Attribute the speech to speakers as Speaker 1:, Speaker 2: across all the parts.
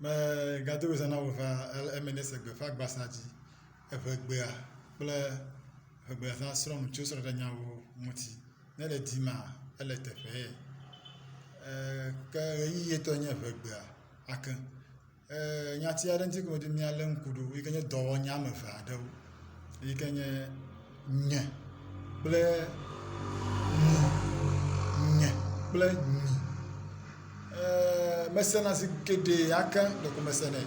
Speaker 1: Megado ɣli zã na wò ʋaa ale eme nye esi le gbeƒã gbasa dzi. Eŋe gbea kple eŋe gbe zã srɔ̃ nu tso srɔ̃ɖeɖe nyawo ŋuti. Ne le dim maa ele teƒee eer ke ʋeyiʋi tɔe nye eŋe gbea ake. Eer nyati aɖe ŋuti ke me wodze mí alé ŋku ɖo yike nye dɔwɔnya wɔme eve aɖewo. yi ke nye nye kple nyi, nye kple nyi. Eee..me sena zi geɖe hake ɖeko me se nɛ.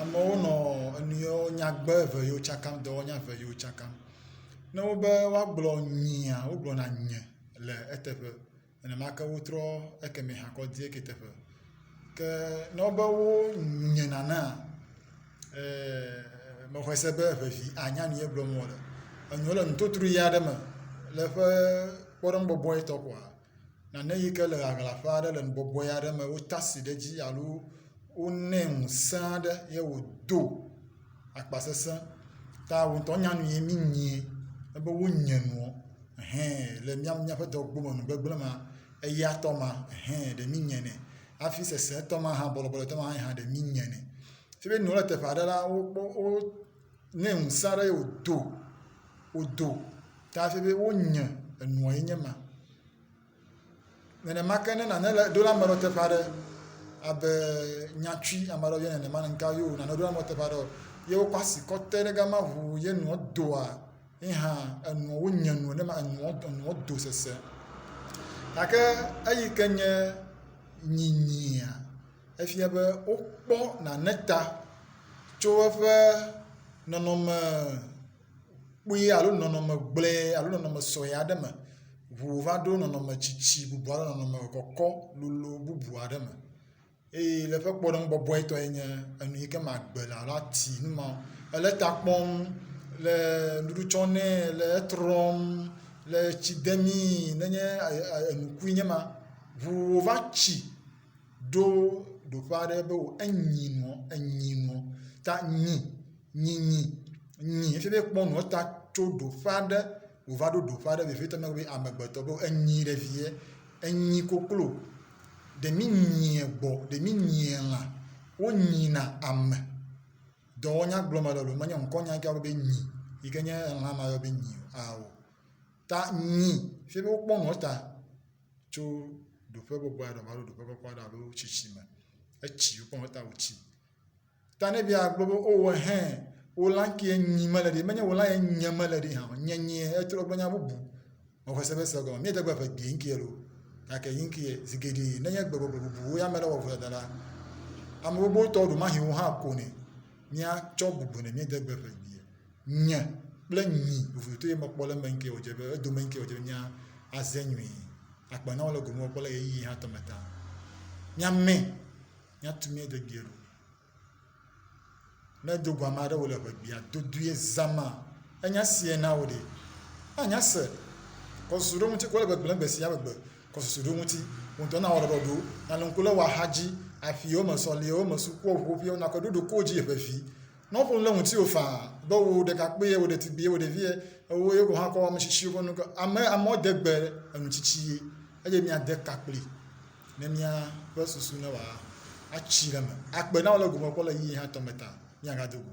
Speaker 1: Amewo nɔ enu yewo nyagbe eve yewo tsakam, dɔwɔnya eve yewo tsakam. Ne wobe woagblɔ nyia, wogblɔna nye le eteƒe. Nenema ke wotrɔ ekemɛ hã kɔ die ke teƒe. Ke ne wobe wonye nanea, ee, mexɔe se be ʋevi anya nu ye gblɔm wole. Enɔ le nutotru ʋe aɖe me le eƒe kpɔɖeŋu bɔbɔe tɔ koa, nane yi ke le ʋaʋla ƒe aɖe le nubɔbɔe aɖe me wota asi ɖe edzi alo wonɛ ŋusẽ aɖe ye wòdo. akpasese ta wò ŋutɔ nya nu yi mí nyi ebe wo nye nuɔ hɛ le mía míaƒe dɔ gbɔme nu gbegble ma eya tɔ ma hɛ ɖe mí nye nɛ hafi sese tɔ ma hã bɔlɔbɔlɔ tɔ ma hã ɖe mí nye nɛ. Fi mi nua le teƒe aɖe la wokpɔ wo ne ŋusẽ aɖe wodo wodo ta hafi be wonye enuɔ ye nye ma. Nenema ke ne nane le ɖo la ame ɖewo teƒe aɖe abe nyati ame aɖewo yɔnɛ nenema ŋka ye wò nane ɖo la ame ɖewo teƒe aɖe ye wokɔ asi kɔ te ɖe gama ŋuu ye nua doa ye hã enua wonye nu ne ma enua enua do sese. Gake eyi ke nye nyinyia efia be wokpɔ nane ta tso eƒe nɔnɔme kpui alo nɔnɔme gblẽ alo nɔnɔme sɔe aɖe me. Ŋu va ɖo nɔnɔme tsitsi bubu alo nɔnɔme kɔkɔ lolo bubu aɖe me eye le eƒe kpɔɖeŋu bɔbɔetɔe nye enu yi ke magbe le alo ati nu ma o. Ele ta kpɔm, le nuɖuɖu tsɔm nɛ, le etrɔm, le etsi demee nenye e e enukui nye ma. Ŋu wova tsi. ɖo ɖoƒe aɖe be wò enyi nɔ enyi nɔ ta nyi nyi nyi nyi efi be kpɔ nɔ ta tso ɖoƒe aɖe wòva ɖo ɖoƒe aɖe vevitɔ na wò be amegbetɔ be enyi ɖe vie enyi koklo ɖe mi nyie gbɔ ɖe mi nyie lã wonyina ame dɔwɔnya gblɔm ele loo menye ŋkɔnya ŋkea be nyi yi ke nye lã ma yɔ be nyi o ao ta nyi fi be wokpɔ nɔ ta. tso ɖoƒe bɔbɔe aɖe alo ɖoƒe kɔkɔ aɖe alo tsitsi me. Etsi, wokpɔ be ta wotsi. Ta ne bia gblɔ be o oh, hɛn, wò lã kee nyi mele ɖi, menye wò lã ye nye mele ɖi hã, nye nyi etrɔ gblɔ nya bubu. Mexɔ se be se gɔme, míede gbe ƒe gbee ŋkie lo. Gake yi ŋkie, zi geɖe nenye gbe gbɔgblɔ bubuwo ya me le wɔ vodada la, ame gbogbo tɔ ɖo mahi wo hã ko ne míatsɔ bubu ne míede gbe ƒe gbee. Nye kple nyi vovotoe mekpɔ le eme ŋkee wòdze be edome ŋkee wòdze be míaze nyui. Agbe na wo le gome wɔkpɔ le ɣeyiɣi hatɔ me ta. Míamɛ, míatu mía degbia ɖo. Ne do go ame aɖe wòle ʋegbea dodoe zãma, enya sie na wò ɖe? Anya se. Kɔ susu ɖe eŋuti, wole gbegblẽ gbe sia megbe. Kɔ susu ɖe eŋuti. Wò ŋutɔ nawɔ ɖɔɖɔ ɖo. Nàlɔ̃ ŋku le wò axadzi, aƒiwo me, sɔliwo me, sukuwò ƒuƒoƒeawo, nàkɔe ɖo ɖokowò dzi ʋeʋĩ. Nɔƒo le ŋutiwò faa be wò ɖekakpui ye wò ɖetugbui ye wò ɖevi ye ewo ye wò hã kɔ ame tsitsi ƒe nu ke ame amewo de gbe enu tsitsi ye eye mia de ka kpli ne mia ƒe susu ne wòa atsi ɖe me akpe na wò le gome kpɔ le yiyi hã tɔme ta mia ga do go